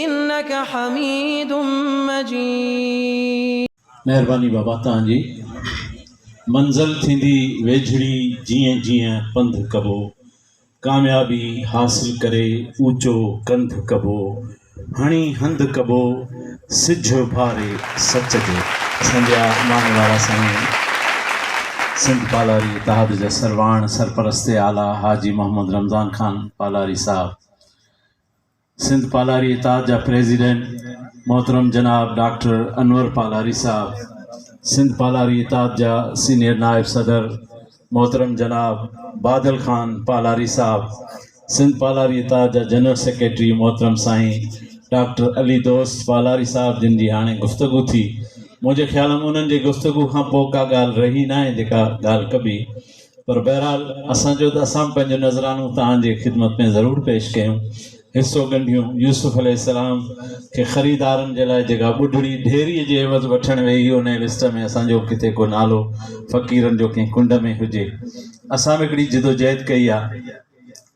انڪ حميد مجيد. مهرباني بابا توهان جي. منزل ٿيندي ويجهڙي جيئن جيئن پنڌ ڪبو ڪاميابي حاصل ڪري اوچو ڪنڌ ڪبو هڻي هنڌ ڪبو سجهه اڀاري سچ جو. اسان جا معني وارا سائين سنڌ پالاري اتحاد جا سرواڻ سرپرست اعليٰ حاجي محمد رمضان خان پالاري صاحب. سنڌ پالاري اتحاد جا پريزيڊنٽ محترم جناب ڊاڪٽر انور پالاري صاحب، سنڌ پالاري اتحاد جا سينيئر نائب صدر محترم جناب بادل خان پالاري صاحب، سنڌ پالاري اتحاد جا جنرل سيڪريٽري محترم سائين ڊاڪٽر علي دوست پالاري صاحب جن جي هاڻي گفتگو ٿي منهنجي خيال ۾ انهن جي گفتگو کان پوء ڪا ڳالهه رهي ناهي جيڪا ڳالهه ڪبي پر بهرحال اسان جو ته اسان به پنهنجو نذرانو توهان جي خدمت ۾ ضرور پيش ڪيون حصو ڳنڍيون يوسف عليه السلام کي خريدارن جي لاء جيڪا ٻڍڙي ڍيري جي عوض وٺڻ ويئي هئي ان لسٽ ۾ اسان جو به ڪٿي ڪو نالو فقيرن جو ڪنهن ڪنڊ ۾ هجي اسان به هڪڙي جدوجهد ڪئي آهي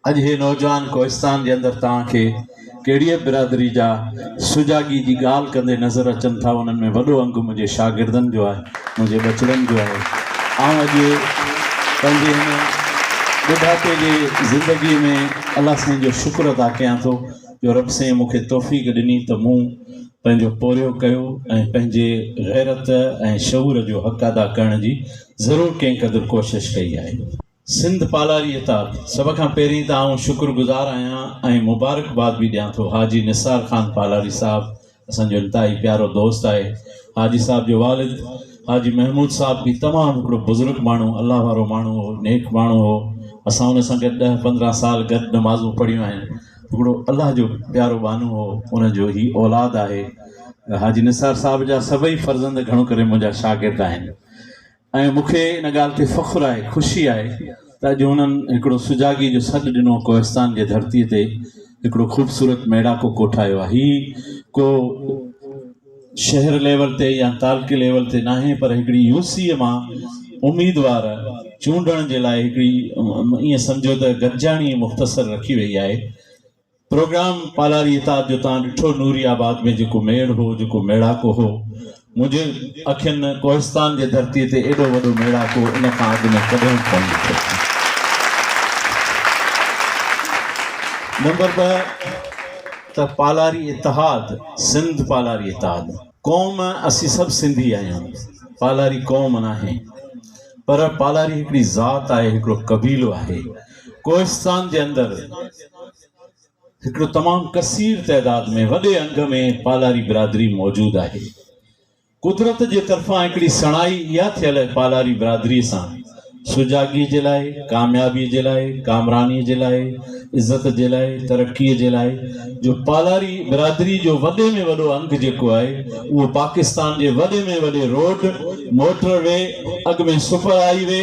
اڄ هي نوجوان ڪوهستان جي اندر توهان کي ڪهڙيء برادري جا سجاڳي جي ڳالهه ڪندي نظر اچن ٿا انهن ۾ وڏو انگ منهنجي شاگردن جو آهي منهنجي ٻچڙن جو آهي آئون اڄ پنهنجي هن ٻڍاپي جي زندگي ۾ الله سائين جو شڪر ادا ڪيان ٿو جو رب سائين مون کي توفيق ڏني ته مون پنهنجو پورهيو ڪيو ۽ پنهنجي غيرت ۽ شعور جو حق ادا ڪرڻ جي ضرور ڪنهن قدر ڪوشش ڪئي آهي سنڌ پالاريء تات سڀ کان پهرين ته آئون شڪر گذار آهيان ۽ مبارڪباد به ڏيان ٿو حاجي نثار خان پالاري صاحب اسان جو انتهائي پيارو دوست آهي حاجي صاحب جو والد حاجي محمود صاحب به تمام هڪڙو بزرگ ماڻهو الله وارو ماڻهو هو نيڪ ماڻهو هو اسان ان سان گڏ ڏهه پندرهن سال گڏ نمازون پڙهيون آهن هڪڙو الله جو پيارو ٻانهو هو ان جو هي اولاد آهي حاجي نثار صاحب جا سڀئي فرزند گهڻو ڪري منهنجا شاگرد آهن ۽ مون کي ان ڳالهه تي فخر آهي، خوشي آهي ته اڄ هنن هڪڙو سجاڳي جو سڏ ڏنو ڪوهستان جي ڌرتي تي هڪڙو خوبصورت ميڙاڪو ڪوٺايو آهي هي ڪو شهر ليول تي يا تعلقي ليول تي ناهي پر هڪڙي يو سي مان اميدوار چونڊڻ جي لاء هڪڙي ائين سمجهو ته گڏجاڻي مختصر رکي وئي آهي پروگرام پالاري اتحاد جو تان ڏٺو نوري آباد ۾ جيڪو ميڙ هو جيڪو ميڙاڪو هو منهنجي اکين ڪوهستان جي ڌرتي تي ايڏو وڏو ميڙاڪو ان کان اڳ ۾ ڪڏهن ڪونه ڏٺو نمبر ٻه ته پالاري اتحاد سنڌ پالاري اتحاد قوم اسين سڀ سنڌي آهيون پالاري قوم ناهي پر پالاري هڪڙي ذات آهي هڪڙو قبيلو آهي ڪوهستان جي اندر هڪڙو تمام ڪثير تعداد ۾ وڏي انگ ۾ پالاري برادري موجود آهي. قدرت جي طرفان هڪڙي سڻائي اها ٿيل آهي پالاري برادري سان سجاڳي جي لاء، ڪاميابي جي لاء، ڪامراني جي لاء، عزت جي لاء، ترقي جي لاء جو پالاري برادري جو وڏي ۾ وڏو انگ جيڪو آهي اهو پاڪستان جي وڏي ۾ وڏي روڊ، موٽر وي، اڳ ۾ سپر هائي وي،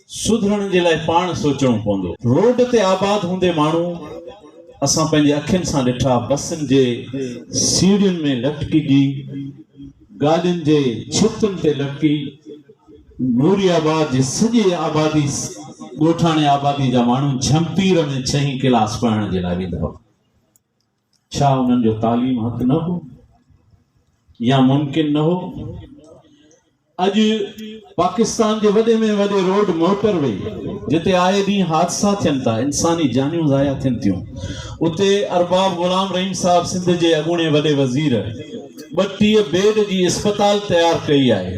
سڌرڻ جي لاء پاڻ سوچڻو پوندو. روڊ تي آباد هوندي ماڻهو اسان پنهنجي اکين سان ڏٺا بسن جي سيڙهين ۾ لٽڪجي گاڏين جي ڇتن تي لٽڪي نوري آباد جي سڄي آبادي ڳوٺاڻي آبادي جا ماڻهو جهمپير ۾ ڇهين ڪلاس پڙهڻ جي لاء ويندا هئا. ڇا انهن جو تعليم حق نه هو يا ممڪن نه هو؟ اڄ پاڪستان جي وڏي ۾ وڏي روڊ موٽر وي جتي آئي ڏينهن حادثا ٿين ٿا، انساني جانيون ضايع ٿين ٿيون، اتي ارباب غلام رحيم صاحب سنڌ جي اڳوڻي وڏي وزير ٻٽيهه بيڊ جي اسپتال تيار ڪئي آهي.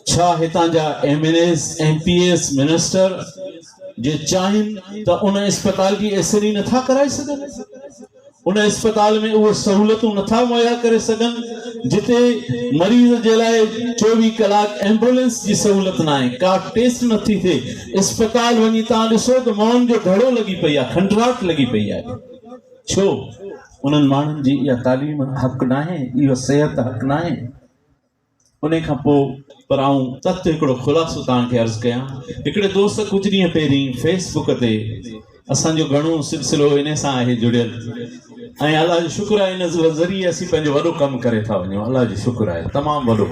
ڇا هتان جا M N As, M P As, minister جي چاهين ته ان اسپتال جي ايس اين اي نه ٿا ڪرائي سگهن؟ ان اسپتال ۾ اهي سهولتون نه ٿا مهيا ڪري سگهن جتي مريض جي لاء چوويهه ڪلاڪ ايمبولينس جي سهولت ناهي، ڪا ٽيسٽ نه ٿي ٿئي، اسپتال وڃي تان ڏسو ته مئن جو ڌڙو لڳي پئي آهي، کنڊراٽ لڳي پئي آهي. ڇو انهن ماڻهن جي اها تعليم حق ناهي، اهو صحت حق ناهي. انهي کان پوء پر آئون تخت هڪڙو خلاصو توهان کي عرض ڪيان. هڪڙي دوست ڪجهه ڏينهن پهرين فيس بڪ تي اسان جو گهڻو سلسلو انهي سان آهي جڙيل ۽ الله جو شڪر آهي ان ذريعي اسين پنهنجو وڏو ڪم ڪري ٿا وڃون الله جو شڪر آهي تمام وڏو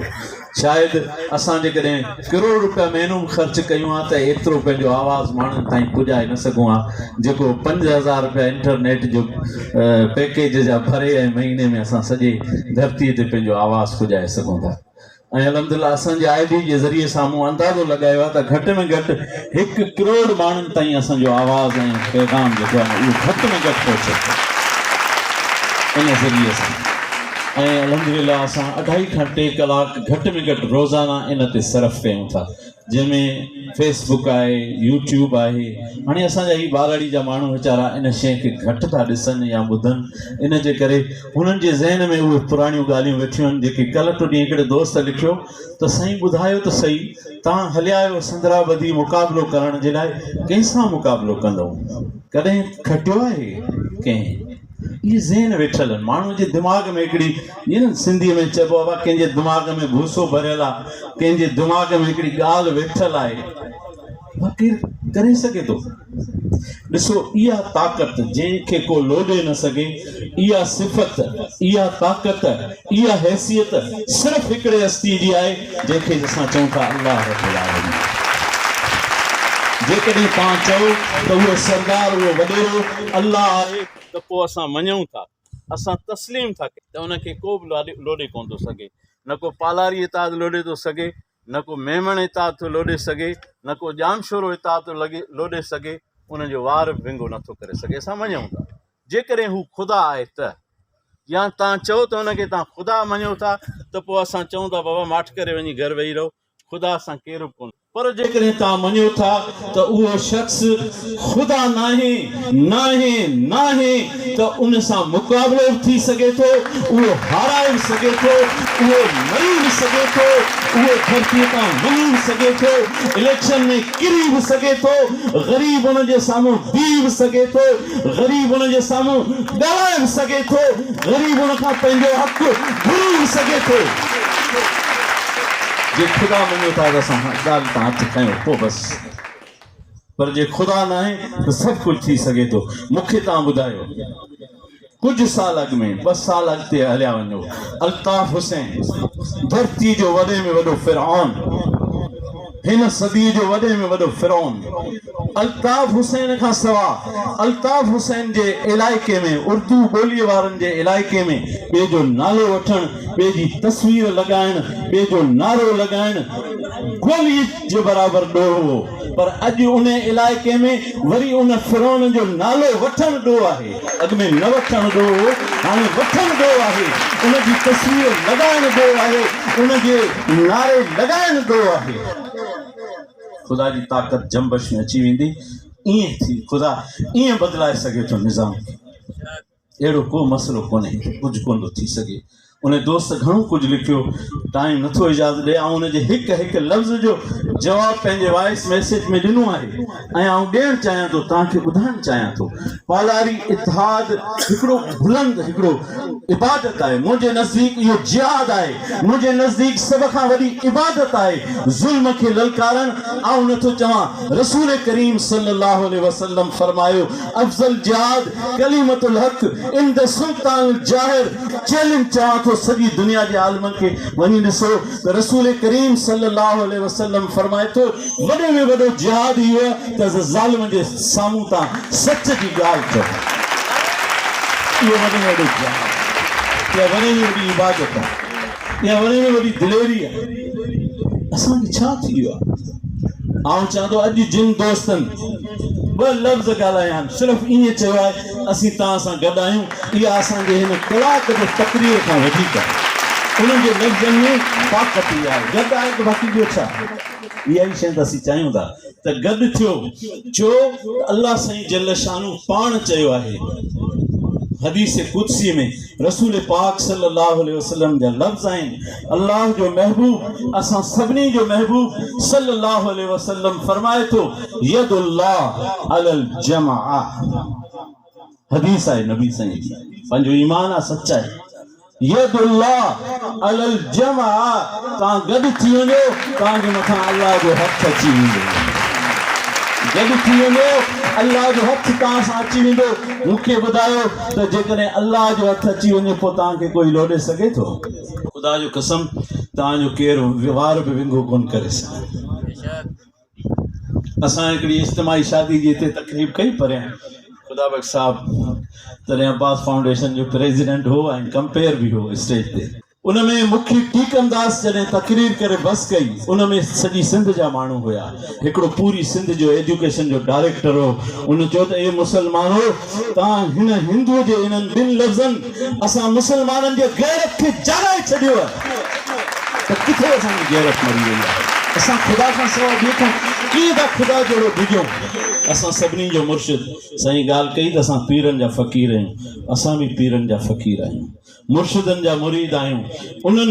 شايد اسان جيڪڏهن ڪروڙ روپيا مهينوم خرچ ڪيون ها ته ايترو پنهنجو آواز ماڻهن تائين پڄائي نه سگهون ها جيڪو پنج هزار روپيا انٽرنيٽ جو پيڪيج جا ڀري ۽ مهيني ۾ اسان سڄي ڌرتي تي پنهنجو آواز پڄائي سگهون ٿا ۽ الحمدلله اسان جي آء ڊي جي ذريعي سان مون اندازو لڳايو آهي ته گهٽ ۾ گهٽ هڪ ڪروڙ ماڻهن تائين اسان جو آواز ۽ پيغام جيڪو آهي اهو گهٽ ۾ گهٽ پهچي ٿو ان ذريعي سان ۽ الحمدلله اسان اڍائي کان ٽي ڪلاڪ گهٽ ۾ گهٽ روزانه ان تي صرف ڪيون ٿا جنهن ۾ فيس بڪ آهي يوٽيوب آهي هاڻي اسان جا هي ٻاراڙي جا ماڻهو ويچارا ان شيء کي گهٽ ٿا ڏسن يا ٻڌن ان جي ڪري هنن جي ذهن ۾ اهي پراڻيون ڳالهيون ويٺيون آهن جيڪي ڪلهه ٽڏهين هڪڙي دوست لکيو ته سائين ٻڌايو ته سهي توهان هليا آهيو سندرا بدي مقابلو ڪرڻ جي لاء ڪنهن سان مقابلو ڪندؤن ڪڏهن کٽيو آهي ڪنهن جي ذهن ويٺل آهن ماڻهو جي دماغ ۾ هڪڙي جيئن سنڌي ۾ چئبو آهي ڪنهن جي دماغ ۾ ڀوسو ڀريل آهي ڪنهن جي دماغ ۾ هڪڙي ڳالهه ويٺل آهي ڪير ڪري سگهي ٿو ڏسو اها طاقت جنهن کي ڪو لوڏي نه سگهي، اها صفت، اها طاقت، اها حيثيت صرف هڪڙي هستي جي آهي جنهن کي اسان چئون ٿا الله رب العالمين. جيڪڏهن توهان چئو ته اهو سردار، اهو وڏيرو الله آهي ته پوء اسان مڃون ٿا، اسان تسليم ٿا ڪيون ته ان کي ڪو به لوڏي ڪونه ٿو سگهي، نه ڪو پالاري اتحاد لوڏي ٿو سگهي، نه ڪو ميمڻ اتحاد ٿو لوڏي سگهي، نه ڪو ڄامشورو اتحاد ٿو لوڏي سگهي، انهن جو وار به ونگو نه ٿو ڪري سگهي. اسان مڃيون ٿا جيڪڏهن هو خدا آهي ته يا توهان چئو ته هن کي توهان خدا مڃيو ٿا ته پوء اسان چئون ٿا بابا ماٺ ڪري وڃي گهر ويهي رهو خدا سان ڪير به ڪونه پر جيڪڏهن توهان مڃيو ٿا ته اهو شخص خدا ناهي، ناهي، ناهي ته ان سان مقابلو به ٿي سگهي ٿو، اهو هارائي به سگهي ٿو، اهو مري به سگهي ٿو، اهو ڌرتيء تان وڃي به سگهي ٿو، اليڪشن ۾ ڪري به سگهي ٿو، غريبڻ جي سامهون بيهي به سگهي ٿو، غريبڻ جي سامهون ڳالهائي به سگهي ٿو، غريبڻ کان پنهنجو حق گهري به سگهي ٿو. جي خدا مڃيو ٿا ته اسان سان ڳالهه تان هٿ کنيو پوء بس پر جي خدا ناهي ته سڀ ڪجهه ٿي سگهي ٿو مون کي تان ٻڌايو ڪجهه سال اڳ ۾ ٻه سال اڳتي هليا وڃو الطاف حسين ڌرتي جو وڏي ۾ وڏو فرعون هن صديء جو وڏي ۾ وڏو فرعون الطاف حسين کان سوا الطاف حسين جي علائقي ۾ اردو ٻوليء وارن جي علائقي ۾ ٻئي جو نالو وٺڻ، ٻئي جي تصوير لڳائڻ، ٻئي جو نعرو لڳائڻ گوليء جي برابر ڏوهه هو پر اڄ انهي علائقي ۾ وري ان فرعون جو نالو وٺڻ ڏوهه آهي. اڳ ۾ نه وٺڻ ڏو هو هاڻي وٺڻ ڏو آهي، ان جي تصوير لڳائڻ ڏو آهي، ان جي نعري لڳائڻ ڏو آهي. خدا جي طاقت جنبش ۾ اچي ويندي ائين ٿي خدا ائين بدلائي سگهي ٿو نظام کي اهڙو ڪو مسئلو ڪونهي جو ڪجهه ڪونه ٿو ٿي سگهي ان دوست گهڻو ڪجهه لکيو، ٽائيم نٿو اجازت ڏئي، آئون ان جي هڪ هڪ لفظ جو جواب پنهنجي وائيس ميسيج ۾ ڏنو آهي ۽ آئون ڏيڻ چاهيان ٿو، توهان کي ٻڌائڻ چاهيان ٿو، پالاري اتحاد هڪڙو بلند هڪڙو عبادت آهي، منهنجي نزديڪ اهو جهاد آهي، منهنجي نزديڪ سڀ کان وڏي عبادت آهي ظلم کي للڪارڻ، آئون نٿو چوان، رسول ڪريم صلي الله عليه وسلم فرمايو، افضل جهاد. ڪليمة الحق عند سلطان الجائر چيلنج چوان ٿو سڄي دنيا جي عالمن کي وڃي ڏسو ته رسول ڪريم صلي الله عليه وسلم فرمائي ٿو وڏي ۾ وڏو جهاد اهو آهي ته ظالمن جي سامهون تان سچ جي ڳالهه چئو اهو وڏي ۾ وڏو جهاد يا وڏي ۾ وڏي عبادت آهي يا وڏي ۾ وڏي دليري آهي اسان کي ڇا ٿي ويو آهي آئون چوان ٿو اڄ جن دوستن ٻه لفظ ڳالهايا آهن، صرف ائين چيو آهي اسين توهان سان گڏ آهيون، اها اسان جي هن ڪلاڪ جي تقرير کان وڌيڪ آهي، انهن جي لفظن ۾ طاقت اها آهي، گڏ آهي ته باقي ٻيو ڇا؟ اها ئي شيء ته اسين چاهيون ٿا ته گڏ ٿيو، ڇو ته الله سائين جل شانه پاڻ چيو آهي، حديث قدسي ۾ رسول پاڪ صلي الله عليه وسلم جا لفظ آهن. الله جو محبوب اسان سڀني جو محبوب صلّي الله عليه وسلّم فرمائي ٿو، يد الله علي الجماعه حديث آهي نبي سائين جي پنهنجو ايمان آ سچائي يد الله علي الجماعه توهان گڏ ٿي وڃو توهان جي مٿان الله جو هٿ اچي ويندو گڏ ٿي وڃو الله جو هٿ توهان سان اچي ويندو مون کي ٻڌايو ته جيڪڏهن الله جو هٿ اچي وڃي پوء توهان کي ڪوئي لوڏي سگهي ٿو خدا جو قسم توهان جو ڪير ويوهار به ونگو ڪونه ڪري سگهندو. اسان هڪڙي اجتماعي شادي جي هتي تقريب ڪئي پريان خدا بخش صاحب تڏهن عباس فائونڊيشن جو پريزيڊنٽ هو ۽ ڪمپيئر به هو اسٽيج تي. ان ۾ مکي ٽيڪم داس جڏهن تقرير ڪري بس ڪئي ان ۾ سڄي سنڌ جا ماڻهو هيا. هڪڙو پوري سنڌ جو ايجوڪيشن جو ڊائريڪٽر هو. ان چيو ته اي مسلمانو! توهان هن هندوء جي انهن ٻن لفظن اسان مسلمانن جي غيرت کي جارائي ڇڏيو آهي ته ڪٿي اسان جي غيرت مري وئي آهي. اسان خدا کان سواء ٻئي کان ڪيئن ٿا خدا جهڙو ڊڄون. اسان سڀني جو مرشد سائين ڳالهه ڪئي ته اسان پيرن جا فقير آهيون. اسان به پيرن جا فقير آهيون. مرشدن جا مريد آهيون انهن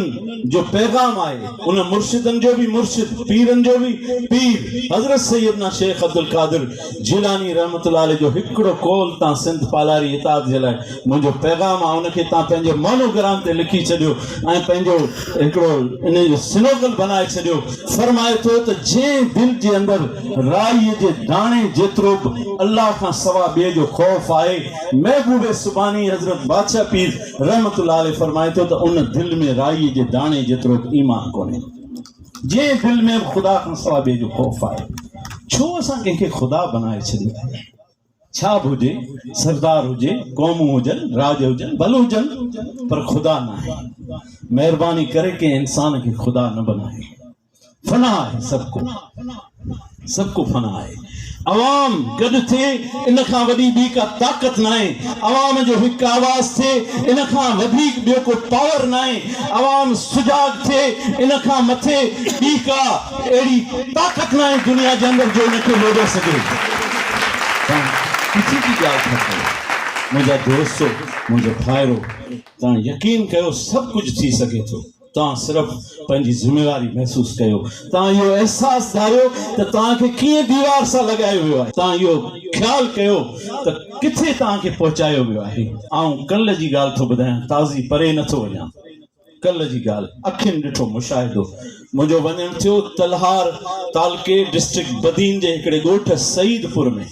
جو پيغام آهي انهن مرشدن جو به مرشد پيرن جو به پير حضرت سيدنا شيخ عبدالقادر جيلاني رحمت الله عليه جو هڪڙو قول تان سنڌ پالاري اطاعت جي لاء منهنجو پيغام آهي ان کي تان پنهنجي مونو گرام تي لکي ڇڏيو ۽ پنهنجو هڪڙو ان جو سنوگل بنائي ڇڏيو فرمائي ٿو ته جنهن دل جي اندر رائي جي داڻي جيترو به الله کان سوا ٻئي جو خوف آهي محبوب سبحاني حضرت بادشاهه پير رحمة الله عليه فرمائي ٿو ته ان دل ۾ رائي جي داڻي جيترو به ايمان ڪونهي جنهن دل ۾ به خدا کان سواء ٻئي جو خوف آهي ڇو اسان ڪنهن کي خدا بنائي ڇڏيو آهي ڇا به هجي سردار هجي قومون هجن راج هجن ڀل هجن پر خدا ناهي مهرباني ڪري ڪنهن انسان کي خدا نه بنائي فنا آهي سڀ ڪو سڀ ڪو فنا آهي عوام گڏ ٿئي ان کان وڏي ٻي ڪا طاقت ناهي عوام جو هڪ آواز ٿئي ان کان وڌيڪ ٻيو ڪو پاور ناهي عوام سجاڳ ٿئي ان کان مٿي ٻي ڪا اهڙي طاقت ناهي دنيا جي اندر جو ان کي لوڏي سگهي تان ڪٿي جي ڳالهه ٿا ڪيو منهنجا دوستو منهنجا ڀائرو تان يقين ڪيو سڀ ڪجهه ٿي سگهي ٿو. توهان صرف پنهنجي ذميواري محسوس ڪيو. توهان اهو احساس ڌاريو ته توهان کي ڪيئن ديوار سان لڳايو ويو آهي. توهان اهو خيال ڪيو ته ڪٿي توهان کي پهچايو ويو آهي. آئون ڪلهه جي ڳالهه ٿو ٻڌايان، تازي پري نه ٿو وڃان. ڪلهه جي ڳالهه، اکين ڏٺو مشاهدو. منهنجو وڃڻ ٿيو تلهار تعلقي ڊسٽرڪٽ بدين جي هڪڙي ڳوٺ سعيد پور ۾.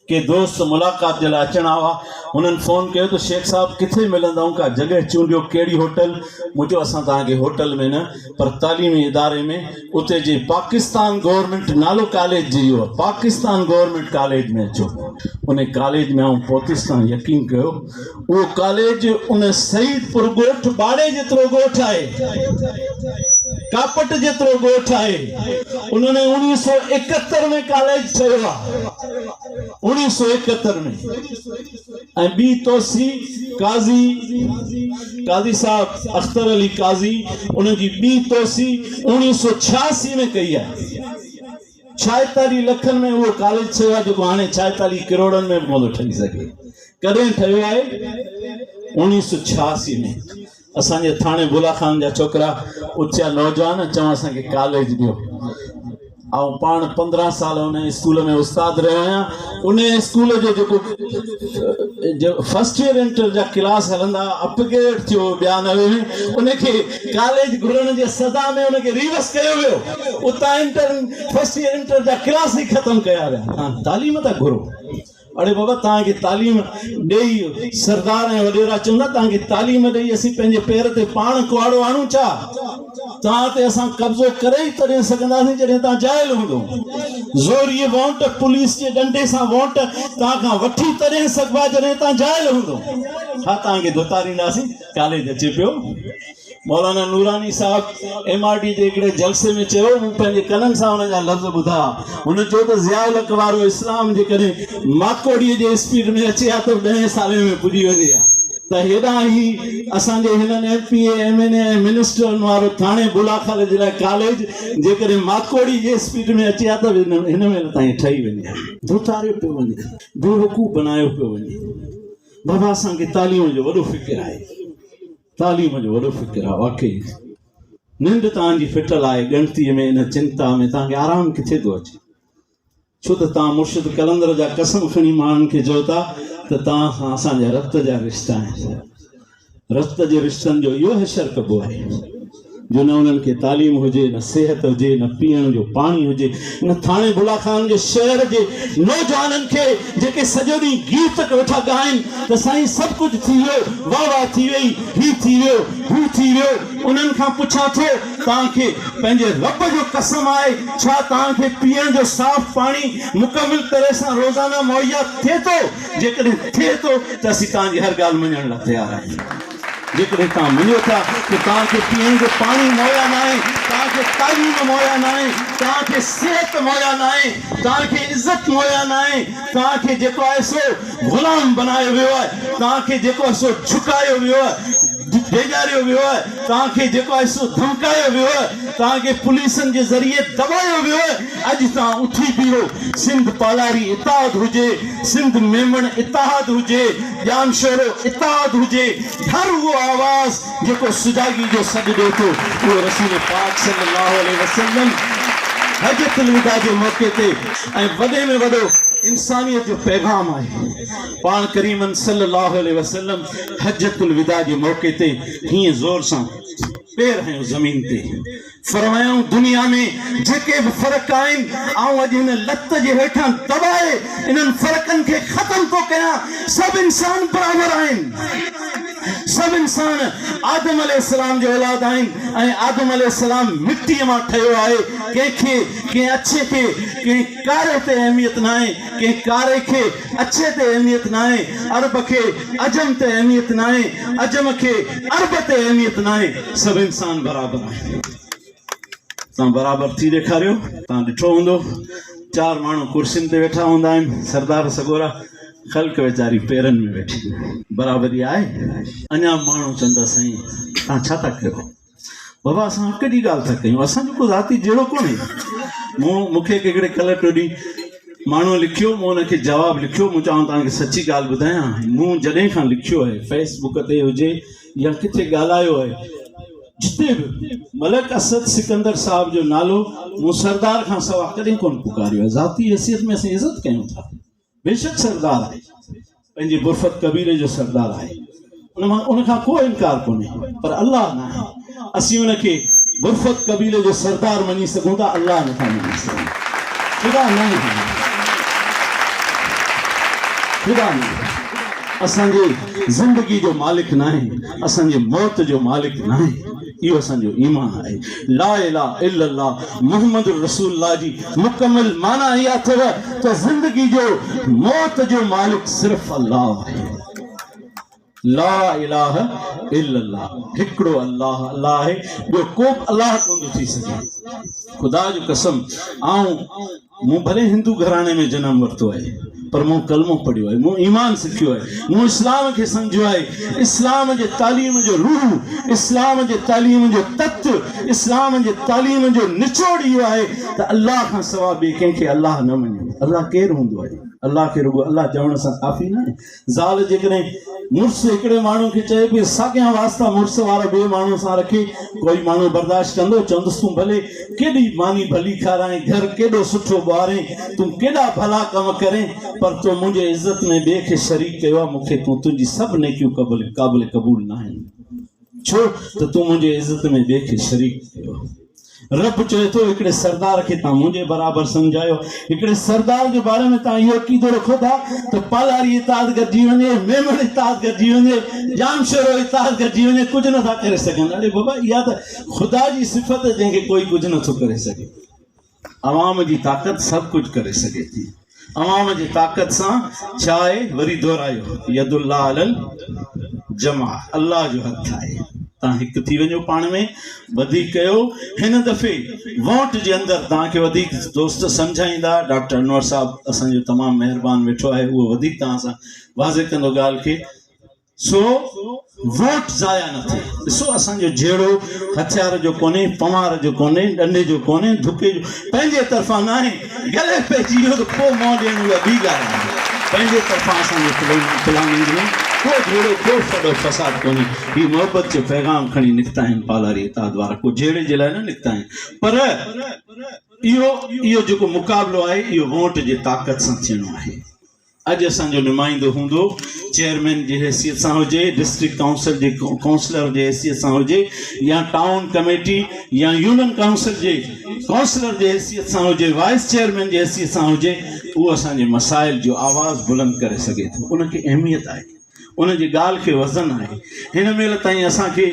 ڪي دوست ملاقات جي لاء اچڻا هئا، هنن فون ڪيو ته شيخ صاحب ڪٿي ملندائون، ڪا جڳهه چونڊيو، ڪهڙي هوٽل؟ مون چيو اسان توهان کي هوٽل ۾ نه پر تعليمي اداري ۾ اتي جي پاڪستان گورنمينٽ نالو ڪاليج جي اهو پاڪستان گورنمينٽ ڪاليج ۾ اچو، انهي ڪاليج ۾ آئون پهتس ته يقين ڪيو، اهو ڪاليج ان سعيد پور ڳوٺ ٻاڙي جيترو ڳوٺ آهي، ڪاپٽ جيترو ڳوٺ آهي، ان ۾ اوڻيهه سؤ ايڪهتر ۾ ڪاليج ٺهيو آهي، اوڻيهه سؤ ايڪهتر ۾ ۽ ٻي توسيع قاضي قاضي صاحب اختر علي قاضي ان جي ٻي توسيع اوڻيهه سؤ ڇياسي ۾ ڪئي آهي. ڇائيتاليهه لکن ۾ اهو ڪاليج ٺهيو آهي جيڪو هاڻي ڇائيتاليهه ڪروڙن ۾ به ڪونه ٺهي سگهي ڪڏهن ٺهيو آهي اوڻيهه سو ڇهاسي ۾ اسان جي ٿاڻي بولا خان جا ڇوڪرا اچيا نوجوان چون اسان کي ڪاليج ڏيو آئون پاڻ پندرهن سال ان اسڪول ۾ استاد رهيو آهيان ان اسڪول جو جيڪو فرسٽ ايئر انٽر جا ڪلاس هلندا اپ گريڊ ٿيو هو ٻيانوي ۾ ان کي ڪاليج گهرڻ جي سزا ۾ ان کي ريورس ڪيو ويو اتان انٽر فرسٽ ايئر انٽر جا ڪلاس ئي ختم ڪيا ويا تان تعليم ٿا گهرو اڙي بابا تان کي تعليم ڏيئي سردار ۽ وڏيرا چوندا تان کي تعليم ڏيئي اسين پنهنجي پير تي پاڻ ڪهاڙو آڻون ڇا توهان تي اسان قبضو ڪري ئي تڏهن سگهنداسين جڏهن توهان جائل هوندو. زوريء وونٽ، پوليس جي ڏنڊي سان وونٽ توهان کان وٺي تڏهن سگهبا جڏهن توهان جائل هوندو. ها توهان کي ڌتارينداسين. ڪاليد اچي پيو. مولانا نوراني صاحب ايم آر ڊي جي هڪڙي جلسي ۾ چيو، مون پنهنجي ڪنن سان ان جا لفظ ٻڌا. هن چيو ته ضياء الحق وارو اسلام جيڪڏهن ماڪوڙيء جي اسپيڊ ۾ اچي ها ته ڏهين سالين ۾ پڄي وڃي ها ته هيڏانهن هي اسان جي هنن M P A, M N A ۽ منسٽرن وارو ٿاڻي بلاخره جي لاء ڪاليج جيڪڏهن ماڪوڙيء جي اسپيڊ ۾ اچي ها ته هن مهل تائين ٺهي وڃي ها. ڌتاريو پيو وڃي، بيوقوف بنايو پيو وڃي. بابا اسان کي تعليم جو وڏو فڪر آهي. تعليم جو وڏو فڪر آهي واقعي ننڊ توهان جي ڦٽل آهي ڳڻتي ۾ ان چنتا ۾ توهان کي آرام ڪٿي ٿو اچي ڇو ته توهان مرشد قلندر جا قسم کڻي ماڻهن کي چئو ٿا ته توهان سان اسان جا رت جا رشتا آهن رت جي رشتن جو اهو حشر ڪبو آهي جو نه انهن کي تعليم هجي، نه صحت هجي، نه پيئڻ جو پاڻي هجي، نه ٿاڻي بلاخان جي شهر جي نوجوانن کي جيڪي سڄو ڏينهن گيت ته ويٺا ڳائين ته سائين سڀ ڪجهه ٿي ويو، واهه واهه ٿي ويئي، هي ٿي ويو، هو ٿي ويو، انهن کان پڇان ٿو توهان کي پنهنجي رب جو قسم آهي ڇا توهان کي پيئڻ جو صاف پاڻي مڪمل طرح سان روزانه مهيا ٿئي ٿو؟ جيڪڏهن ٿئي ٿو ته اسين توهان جي هر ڳالهه مڃڻ لاء تيار آهيون. جيڪڏهن توهان مڃو ٿا ته توهان کي پيئڻ جو پاڻي مهيا ناهي، توهان کي تعليم مهيا ناهي، توهان کي صحت مهيا ناهي، توهان کي عزت مهيا ناهي، توهان کي جيڪو آهي سو غلام بنايو ويو آهي، توهان کي جيڪو آهي سو جهڪايو ويو آهي، ڊيڄاريو ويو آهي، توهان کي جيڪو آهي سو ڌمڪايو ويو آهي، توهان کي پوليسن جي ذريعي دٻايو ويو آهي، اڄ توهان اٿي بيهو، سنڌ پالاري اتحاد هجي، سنڌ ميمڻ اتحاد هجي، ڄامشورو اتحاد هجي، هر اهو آواز جيڪو سجاڳي جو سڏ ڏئي ٿو، اهو رسول پاڪ صلي الله عليه وسلم حجة الوداع جي موقعي تي ۽ وڏي ۾ وڏو انسانيت جو پيغام آهي. پاڻ ڪريم صلي الله عليه وسلم حجة الوداع جي موقعي تي هيئن زور سان پير هنيو زمين تي. فرمايائون دنيا ۾ جيڪي به فرق آهن، آئون اڄ هن لت جي هيٺان دٻائي انهن فرقن کي ختم ٿو ڪيان، سڀ انسان برابر آهن، سڀ انسان آدم عليه السلام جي اولاد آهن ۽ آدم عليه السلام مٽيء مان ٺهيو آهي، ڪنهن کي ڪنهن اڇي کي ڪنهن ڪاري تي اهميت ناهي، ڪنهن ڪاري کي. اڇي تي اهميت ناهي عرب کي عجم تي اهميت ناهي عجم کي عرب تي اهميت ناهي سڀ انسان برابر آهن تان برابر ٿي ڏيکاريو تان ڏٺو هوندو چار ماڻهو ڪرسين تي ويٺا هوندا آهن سردار سڳورا خلق ويچاري پيرن ۾ ويٺي برابري آهي اڃا ماڻهو چوندا سائين تان ڇا ٿا ڪيو بابا اسان حق جي ڳالهه ٿا ڪيون اسان جو ڪو ذاتي جهيڙو ڪونهي مون مون کي هڪڙي ڪلهه ٽوڏي ماڻهو لکيو مون ان کي جواب لکيو مون چاهون توهان کي سچي ڳالهه ٻڌايان مون جڏهن کان لکيو آهي فيس بڪ تي هجي يا ڪٿي ڳالهايو آهي جتي به ملڪ اسد سڪندر صاحب جو نالو مون سردار کان سوا ڪڏهن ڪون پڪاريو آهي ذاتي حيثيت ۾ اسين عزت ڪيون ٿا بيشڪ سردار آهي پنهنجي برفت قبيلي جو سردار آهي ان مان ان کان ڪو انڪار ڪونهي پر الله ناهي اسين ان کي برفت قبيلي جو سردار مڃي سگهون ٿا الله نٿا مڃي سگهون خدا ناهي خدا ناهي اسان جي زندگي جو مالڪ ناهي اسان جي موت جو مالڪ ناهي اهو اسان جو ايمان آهي. لا اله الا الله محمد رسول الله جي مڪمل معنيٰ اها اٿيو ته زندگي جو موت جو مالڪ صرف الله آهي. لا اله الا الله هڪڙو الله الله آهي ٻيو ڪوبه الله ڪونه ٿي سگهي خدا جو قسم آئون مون ڀلي هندو گهراڻي ۾ جنم ورتو آهي پر مون ڪلمو پڙهيو آهي، مون ايمان سکيو آهي، مون اسلام کي سمجهيو آهي، اسلام جي تعليم جو روح، اسلام جي تعليم جو تت، اسلام جي تعليم جو نچوڙ اهو آهي ته الله کان سوا ٻئي ڪنهن کي الله نه مڃو، الله ڪير هوندو آهي؟ الله کي رڳو الله چوڻ سان ڪافي ناهي. زال جيڪڏهن مڙس هڪڙي ماڻهو کي چئي پئي ساڳيان واسطا مڙس وارا ٻئي ماڻهو سان رکي ڪوئي ماڻهو برداشت ڪندو چوندس تون ڀلي ڪيڏي ماني ڀلي کارائين گهر ڪيڏو سٺو ٻوهارين تون ڪيڏا ڀلا ڪم ڪرين پر تو منهنجي عزت ۾ ٻئي کي شريڪ ڪيو آهي مون کي تون تنهنجي سڀ نيڪيون قبول قابل قبول ناهن. ڇو ته تون منهنجي عزت ۾ ٻئي کي شريڪ ڪيو. رب چوي ٿو، هڪڙي سردار کي توهان منهنجي برابر سمجهايو. هڪڙي سردار جي باري ۾ توهان اهو عقيدو رکو ٿا ته پالاري اتحاد گڏجي وڃي، ميمڻ اتحاد گڏجي وڃي، ڄامشورو اتحاد گڏجي وڃي، ڪجهه نٿا ڪري سگهن. اڙي بابا! اها ته خدا جي صفت آهي، جنهن کي ڪوئي ڪجهه نٿو ڪري سگهي. عوام جي طاقت سڀ ڪجهه ڪري سگهي ٿي عوام جي طاقت سان ڇا آهي وري دهرايو يد الله علي الجمع الله جو هٿ آهي تان هڪ ٿي وڃو پاڻ ۾ وڌيڪ ڪيو هن دفعي ووٽ جي اندر تان کي وڌيڪ دوست سمجهائيندا ڊاڪٽر انور صاحب اسان جو تمام مهربان ويٺو آهي اهو وڌيڪ تان سان واضح ڪندو ڳالهه کي سو ووٽ ضايع نه ٿئي ڏسو اسان جو جهيڙو هٿيار جو ڪونهي پنوار جو ڪونهي ڏنڊي جو ڪونهي ڌڪي جو پنهنجي طرفان ناهي گلي پئجي ويو ته پوء منهن ڏيڻ اها ٻي ڳالهه آهي پنهنجي طرفان اسان جي پلاننگ ۾ ڪو جهيڙو ڪو ڦڏو فساد ڪونهي هي محبت جو پيغام کڻي نڪتا آهن پالاري اتحاد وارا ڪو جهيڙي جي لاء نه نڪتا آهن پر اهو اهو جيڪو مقابلو آهي اهو ووٽ جي طاقت سان ٿيڻو آهي اڄ اسان جو نمائندو هوندو چيئرمين جي حيثيت سان هجي، ڊسٽرڪٽ ڪائونسل جي ڪائونسلر جي حيثيت سان هجي يا ٽائون ڪميٽي يا يونين ڪائونسل جي ڪائونسلر جي حيثيت سان هجي، وائيس چيئرمين جي حيثيت سان هجي، اهو اسان جي مسائل جو آواز بلند ڪري سگهي ٿو، ان کي اهميت آهي. ان جي ڳالهه کي وزن آهي. هن مهل تائين اسان کي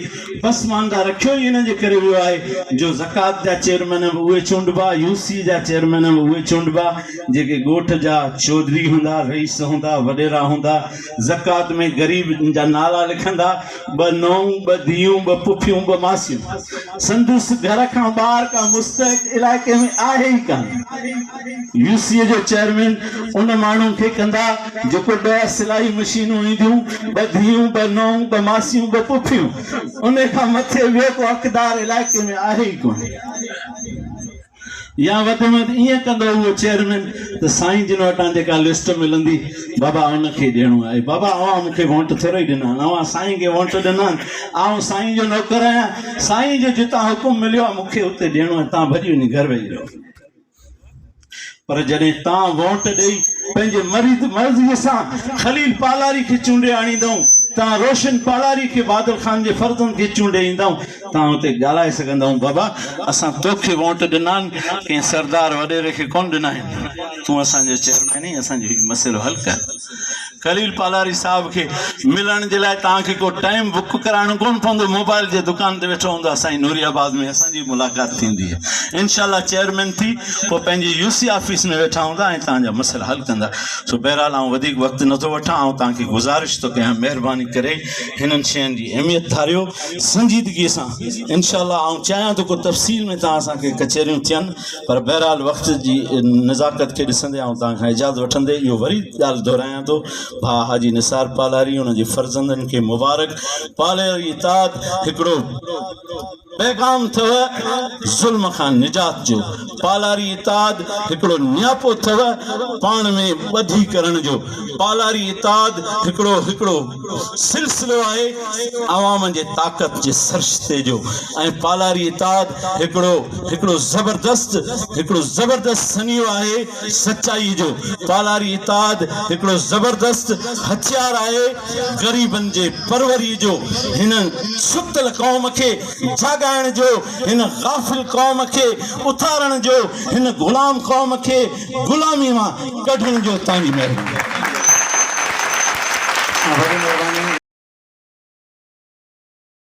پسمانده رکيو ئي ان جي ڪري ويو آهي جو زڪوات جا چيئرمين به اهي چونڊبا، يو سي جا چيئرمين به اهي چونڊبا جيڪي ڳوٺ جا چوڌري هوندا، رئيس هوندا، وڏيرا هوندا، زڪوات ۾ غريب جا نالا لکندا، ٻه نونهون، ٻه ڌيئون، ٻه پڦيون، ٻه ماسيون. سندس گهر کان ٻاهر ڪا مستحق علائقي ۾ آهي ئي ڪانه. يو سي اي جو چيئرمين ان ماڻهو کي ڪندا جيڪو ڏهه سلائي مشينون اينديون، ٻه ڌيئون، ٻه نونهون، ٻه ماسيون، ٻه پڦيون. ان کان مٿي ٻيو ڪو حقدار علائقي ۾ آهي ئي ڪونه. يا وڌ ۾ وڌ ائين ڪندو اهو چيئرمين ته سائين جن وٽان جيڪا لسٽ ملندي بابا ان کي ڏيڻو آهي. بابا اوهان مون کي وونٽ ٿورئي ڏنا آهن. اوهان سائين کي وونٽ ڏنا آهن. آئون سائين جو نوڪر آهيان. سائين جو جتان حڪم مليو آهي مون کي اتي ڏيڻو آهي. تان ڀڄي وڃي گهر ويهي رهو. پر جڏهن تان ووٽ ڏئي پنهنجي مرضي سان خليل پالاري کي چونڊي آڻيندؤ تان روشن پالاري کي بادل خان جي فرزند کي چونڊي ايندؤ تان اتي ڳالهائي سگهندؤ بابا اسان توکي ووٽ ڏنا آهن ڪنهن سردار وڏيري کي ڪونه ڏنا آهن تون اسان جو چيئرمين آهين اسان جو هي مسئلو حل ڪر خليل پالاري صاحب کي ملڻ جي لاء توهان کي ڪو ٽائيم بڪ ڪرائڻو ڪونه پوندو موبائل جي دڪان تي ويٺو هوندو سائين نوري آباد ۾ اسان جي ملاقات ٿيندي انشاء الله چيئرمين ٿي پوء پنهنجي يو سي آفيس ۾ ويٺا هوندا ۽ توهان جا مسئلا حل ڪندا سو بهرحال آئون وڌيڪ وقت نٿو وٺان آئون توهان کي گذارش ٿو ڪيان مهرباني ڪري هنن شين جي اهميت ڌاريو سنجيدگي سان انشاء الله آئون چاهيان ٿو ڪو تفصيل ۾ توهان سان ڪي ڪچهريون ٿين پر بهرحال وقت جي نزاڪت کي ڏسندي آئون توهان کان اجازت وٺندي اهو وري ڳالهه دهرايان ٿو ڀاء حاجي نثار پالاري انهن جي فرزندن کي مبارڪ پالاري تاج هڪڙو پيغام اٿو ظلم کان نجات جو پالاري تاج هڪڙو نياپو اٿو پاڻ ۾ ٻڌي ڪرڻ جو پالاري تاج هڪڙو هڪڙو سلسلو آهي عوام جي طاقت جي سرشتي جو ۽ پالاري اتحاد هڪڙو هڪڙو زبردست هڪڙو زبردست سنيهو آهي سچائي جو پالاري اتحاد هڪڙو زبردست هٿيار آهي غريبن جي پروري جو هن ستل قوم کي جاڳائڻ جو هن غافل قوم کي اٿارڻ جو هن غلام قوم کي غلامي مان ڪڍڻ جو توهان جي مهرباني.